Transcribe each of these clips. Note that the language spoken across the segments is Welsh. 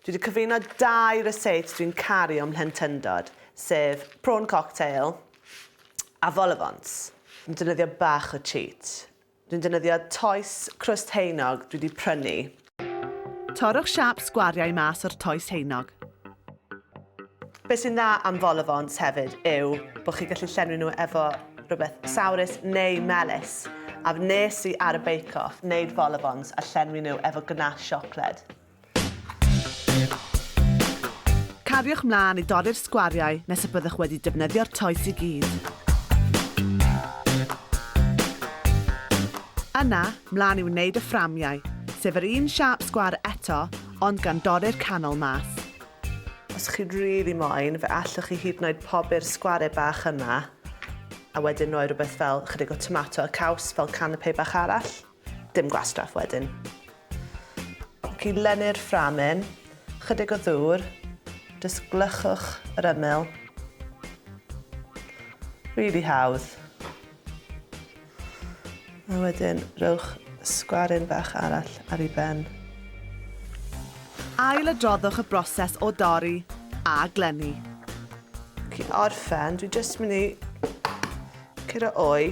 Dwi 'di cyfuno dau receipts dwi'n caru o'm mhlentyndod, sef prawn cocktail a vol au vents. Dwi'n defnyddio bach o cheat. Dwi'n defnyddio toes crwst haenog dwi 'di prynu. Torrwch siâp sgwariau mas o'r toes haenog. Be sy'n dda am vol-au-vents hefyd yw bod chi'n gallu llenwi nhw efo rhywbeth sourus neu melys, a wnes i ar y Bake Off wneud vol-au-vents a llenwi nhw efo gnache siocled. Cariwch mlaen i dorri'r sgwariau nes y byddwch wedi defnyddio'r toes i gyd. Yna, mlaen i wneud y fframiau, sef yr un siâp sgwâr eto, ond gan dorri'r canol mas. Os chi rili moyn, fe allwch chi hyd yn oed pobi'r sgware bach yma, a wedyn roi rhywbeth fel chydig o tomato a caws fel canapé bach arall. Dim gwastraff wedyn. Ac i lenni'r fframyn, chydig o ddŵr, jyst gwlychwch yr ymyl. Rili hawdd. A wedyn rhowch sgwaryn bach arall ar ei ben. Ail-adroddwch y broses o dorri a glenni. Cyn orffen, dwi jyst mynd i curo oi.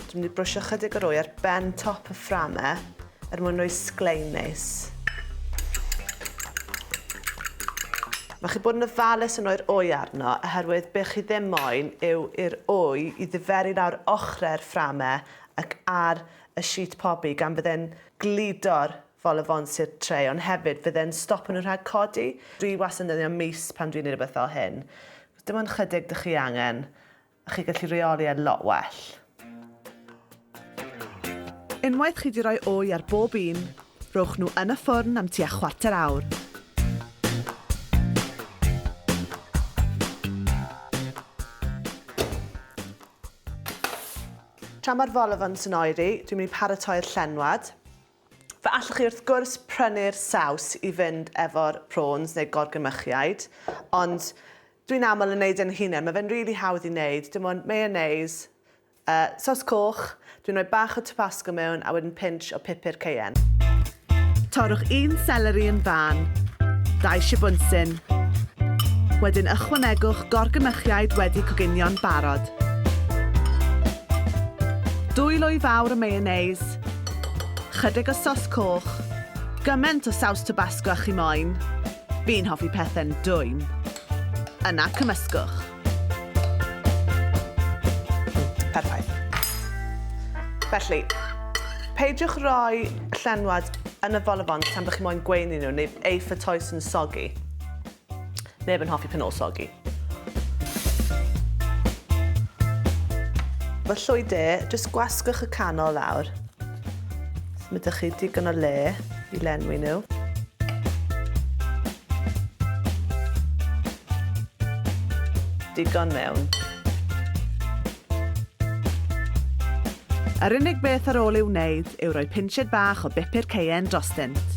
Dwi'n mynd i brwsio chydig o'r oi ar ben top y fframau. Er mwyn rhoi sglein neis. Mae chi bod yn ofalus yn rhoi'r wy arno oherwydd be chi ddim moyn yw i'r wy i ddiferu lawr ochrau'r fframau ac ar y sheet pobi gan fydde'n gludo'r vol-au-vents i'r tray ond hefyd fydde'n stopo nhw rhag codi. Dwi wastad yn defnyddio mis pan dwi'n neud rhywbeth fel hyn. Dim ond chydig dych chi angen. A chi'n gallu reoli e'n lot well. Unwaith chi 'di roi wy ar bob un, rhowch nhw yn y ffwrn am tua chwarter awr. Tra mae'r vol au vents yn oeri, dwi'n mynd i paratoi'r llenwad. Fe allwch chi wrth gwrs prynu'r saws i fynd efo'r prawns neu gorgrymmychiaid, ond Dwi'n aml yn neud e'n hunen, ma fe'n rili hawdd i neud, dim ond mayonnaise, yy sos coch, dwi'n rhoi bach o tabasco mewn a wedyn pinch o pupur cayenne. Torrwch un seleri yn fân, dau sibwnsyn, wedyn ychwanegwch gorgynnyrchiaid wedi coginio'n barod. Dwy lwy fawr o mayonnaise, chydig o sos coch, gyment o saws tabasco a chi moyn, Fi'n hoffi pethe'n dwym. Yna cymysgwch. Perffaith. Felly, peidiwch roi llenwad yn y folofon tan bod chi moyn gweini nhw neu eu ffytoes yn sogi. Neb yn hoffi pan ôl sogi. Fy llwy de, jyst gwasgwch y canol lawr. So mae ydych chi digon o le i lenwi nhw. Digon mewn. Yr unig beth ar ôl ei wneud yw rhoi pinched bach o bupur cayenne drostynt.